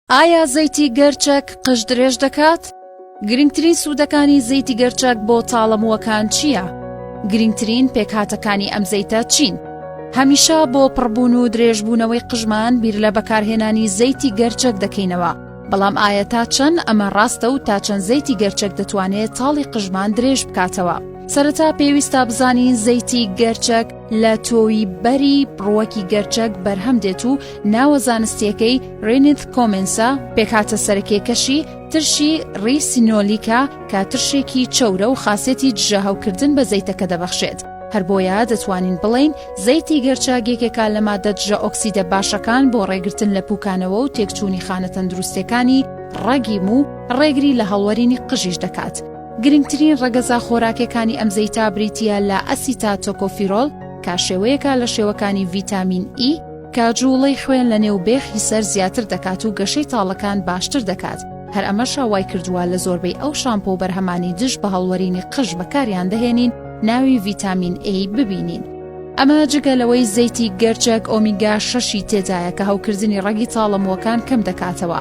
ئایا زەیتی گەرچەک قژ درێژ دەکات؟ گرنگترین سوودەکانی زەیتی گەرچەک بۆ تاڵە مووەکان چییە؟ گرنگترین پێکهاتەکانی ئەم زەیتە چین؟ هەمیشە بۆ پڕبوون و درێژبوونەوەی قژمان بیر لە بەکارهێنانی زەیتی گەرچەک دەکەینەوە، بەڵام ئایا تا چەند ئەمە ڕاستە و تا چەند زەیتی گەرچەک دەتوانێت تاڵی قژمان درێژ بکاتەوە؟ سەرەتا پێویستە بزانین زەیتی گەرچەک، لە تۆوی بەری ڕووەکی گەرچەک بەرهەم دێت و ناوە زانستیەکەی رێنیت کۆمێنسا، پێکهاتە سەرەکیەکەشی ترشی ڕیسینۆلیکە کە ترشێکی چەورە و خاسێتی دژەهەوکردن بە زەیتەکە دەبەخشێت، هەر بۆیە دەتوانین بڵێین زەیتی گەرچەک یەکێکە لە ماددە دژەئۆکسیدە باشەکان بۆ ڕێگرتن لە پوکانەوە و تێکچوونی خانە تەندروستیەکانی ڕەگی موو، ڕێگری لە هەڵوەرینی قژیش دەکات. گرنگترین ڕەگەزە خۆراکێکانی ئەم زەیتە بریتییە لە ئەسیتا تۆکۆفیرۆل کە شێوەیەکە لە شێوەکانی ڤیتامین ئی کە جووڵەی خوێن لە نێو بێخی سەر زیاتر دەکات و گەشەی تاڵەکان باشتر دەکات هەر ئەمەشە وای کردووە لە زۆربەی ئەو شامپۆ و بەرهەمانی دژ بە هەڵوەرینی قژ بەکاریان دەهێنین ناوی ڤیتامین ئەی ببینین ئەمە جگە لەوەی زەیتی گەرچەک ئۆمیگا شەشی تێدایە کە هەوکردنی ڕەگی تاڵەمووەکان کەم دەکاتەوە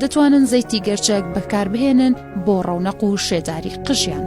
دەتوانن زەیتی گەرچەک بەکاربهێنن بۆ ڕەونەق و شێداری قژیان.